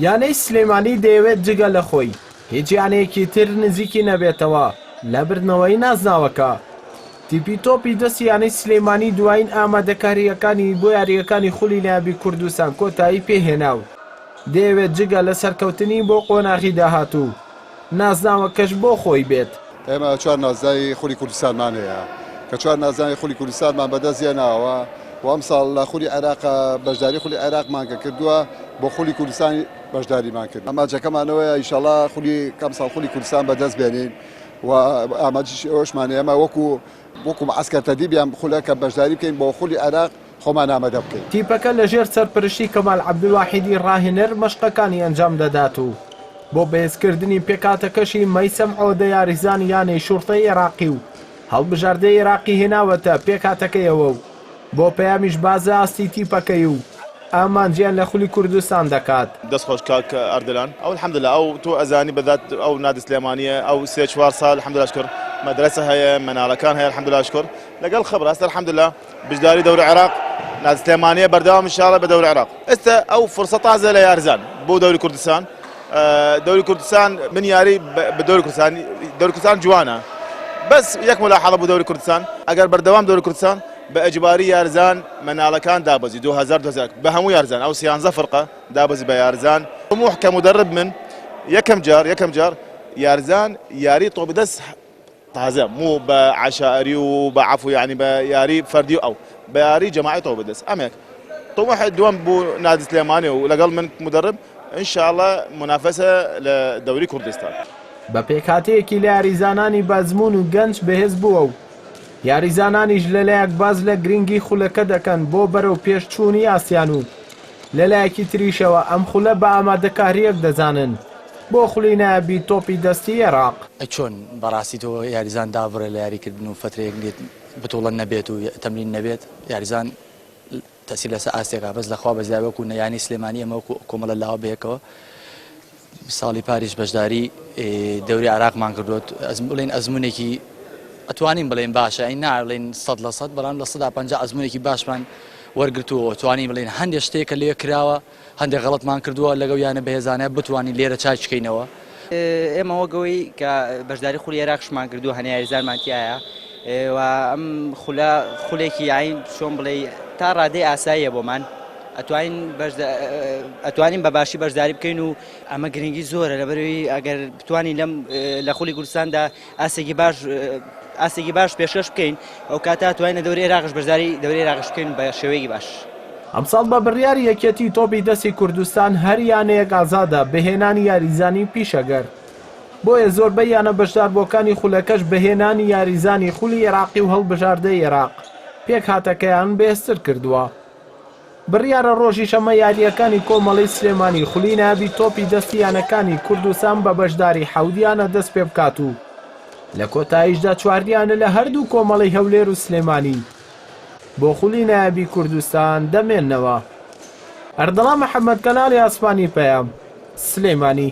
یانەی سلێمانی دەیەوێت جگە لە خۆی هیچ یانەیەکی تر نزیکی نەبێتەوە لە بردنەوەی نازناوەکە. تیپی تۆپی دەست یانەی سلێمانی دوایین ئامادەکارییەکانی بۆ یارییەکانی خولی نایابی کوردستان کۆتایی پێهێنا و دەیەوێت جگە لە سەرکەوتنی بۆ قۆناغی داهاتوو، نازناوەکەش بۆ خۆی بێت. ئێمە چوار نازناوی خولی کوردستانمان هەیە، کە چوار نازناوی خولی کوردستانمان بەدەست هێناوە و ئەمساڵ لە خولی عێراق بەشداری خولی عێراقمان کە کردووە، بۆ خولی کوردستان بەشداریمان کردووە. ئامانجەکەمان ئەوەیە ئینشەڵا ئەمساڵ خولی کوردستان بەدەست بێنین و ئامانجی ئەوەشمان هەیە ئێمە وەکوو وەکو معسکەر تەدیب یان خولە کە بەشداری بکەین بۆ خولی عێراق خۆمان ئامەدە بکەین. تیپەکە لەژێر سەرپەرشتی کەمال عەبدولواحیدی راهێنەر مەشقەکانی ئەنجام دەدات و بۆ بەهێزکردنی پێکهاتەکەشی مەیسەم عۆدە یاریزانی یانەی شوڕتەی عێراقی و هەڵبژاردەی عێراقی هێناوەتە پێکهاتەکەیەوە و بۆ پەیامیش بازە ئاستی تیپەکەی و ئامانجیان لە خولی کوردستان دەکات. دەست خۆش کاک ئەردەلان ئەو الحمدللە ئەو تۆ ئەزانی بەدات ئەو نادی سلێمانیە ئەو سێ چوار سال الحمدللە شکر مەدرەسە هەیە مەنالەکان هەیە الحمدللە شکر لەگەڵ خبر هەست الحمدللە بژداری دەور عێراق نادی سلێمانیە بەردەوام ان شاء اللە بە دەور عێراق ئێستا ئەو فرسە تازە لە یارزان بۆ دەوری کوردستان دەوری کوردستان من یاری بە دەوری کوردستان دەوری کوردستان جوانە بەس یەک ملاحظە بۆ دەوری کوردستان ئەگەر بەردەوام دەوری کوردستان بە ئەجباری یارزان مەناڵەکان دابەزی 2000 دۆزاک بە هەموو یارزان ئەو سیانزە فرقە دابەزی بە یارزان طموح کە مدرب من یەکەم جار یەکەم جار یارزان یاری طۆبدەست تازە مو بە عەشائەری و بە عەفو یانی بە یاری فەردی و ئەو بە یاری جەماعی تۆ بدەس ئەمێک طموح دووەم بو نادی سلێمانی و لەگەڵ من مدرب ان شاء اللە منافسە لە دەوری کوردستان. بە پێکهاتەیەکی لە یاریزانانی بەئەزموون و گەنج بەهێز بووە و یاریزانانیش لەلایەک باس لە گرنگی خولەکە دەکەن بۆ بەرەوپێش چوونی ئاسیان و لە لایەکی تریشەوە ئەم خولە بە ئامادەکارییەک دەزانن بۆ خولی نایابی تۆپی دەستی عێراق. ئەی چۆن بەڕاستی تۆ یاریزان دابڕێ لە یاری کردن و فەترەیەک لێت بتوڵە نەبێت و تەمرین نەبێت یاریزان تەسیر لەسەر ئاستێکا بەس لەخوا بەزیای وەکو نە یانی سلێمانی ئەمە وەکو کۆمەڵە لاوە بەیەکەوە ساڵی پاریش بەشداری دەوری عراقمان کردوت ئەزم بڵین ئەزمونێکی ئەتوانین بڵێن باشە ئەین ناڵێن سەد لە سەد بەڵام لە سەدا پ ئەزمونێکی باشمان وەرگتووە توانی بڵێن هەندێک شتێک کە لێ کراوە هەندێک غڵتمان کردووە لەگەڵ یانە بەهێزانە بتوانین لێرە چاچکەینەوە ئێمە وەگەوەی کە بەشداری خولی عێراقشمان کردو هەنێ یاریزانمان تایە و ئەم خولە خولێکی یاین چۆن بڵێی تا ڕادەی ئاساییە بۆمان ئەتوانین ئەتوانین بە باشی بەشداری بکەین و ئەمە گرنگی زۆرە لەبەروی ئەگەر بتانی لەم لە خولی کوردستاندا ئاسێکی باش ئاسێکی باش پێشکەش بکەین ئەو کاتا توانین لە دەوری عێراقش بەشداری دەوری عێراقش بکەین بە شێوەیەکی باش. ئەمساڵ بە بڕیاری یەکێتی تۆپی دەستی کوردستان هەر یانەیەک ئازادە بە هێنانی یاریزانی پیشەگەر. بۆیە زۆربەی یانە بەشداربووەکانی خولەکەش بە هێنانی یاریزانانی خولی ئێراقی و هەڵبژاردەی ئێراق، پێکهاتەکەیان بەهێزتر کردووە. بڕیارە رۆژی شەممە یارییەکانی کۆمەڵەی سلێمانی خولی نایابی تۆپی دەستی یانەکانی کوردستان بە بەشداری حەوت یانە دەستپێبکات و لە کۆتاییشدا چواریانە لە هەردوو کۆمەڵەی هەولێر و سلێمانی بۆ خولی نایابی کوردستان دەمێننەوە. ئەردەڵان محەمەد کەناڵی ئاسمانی پەیام، سلێمانی.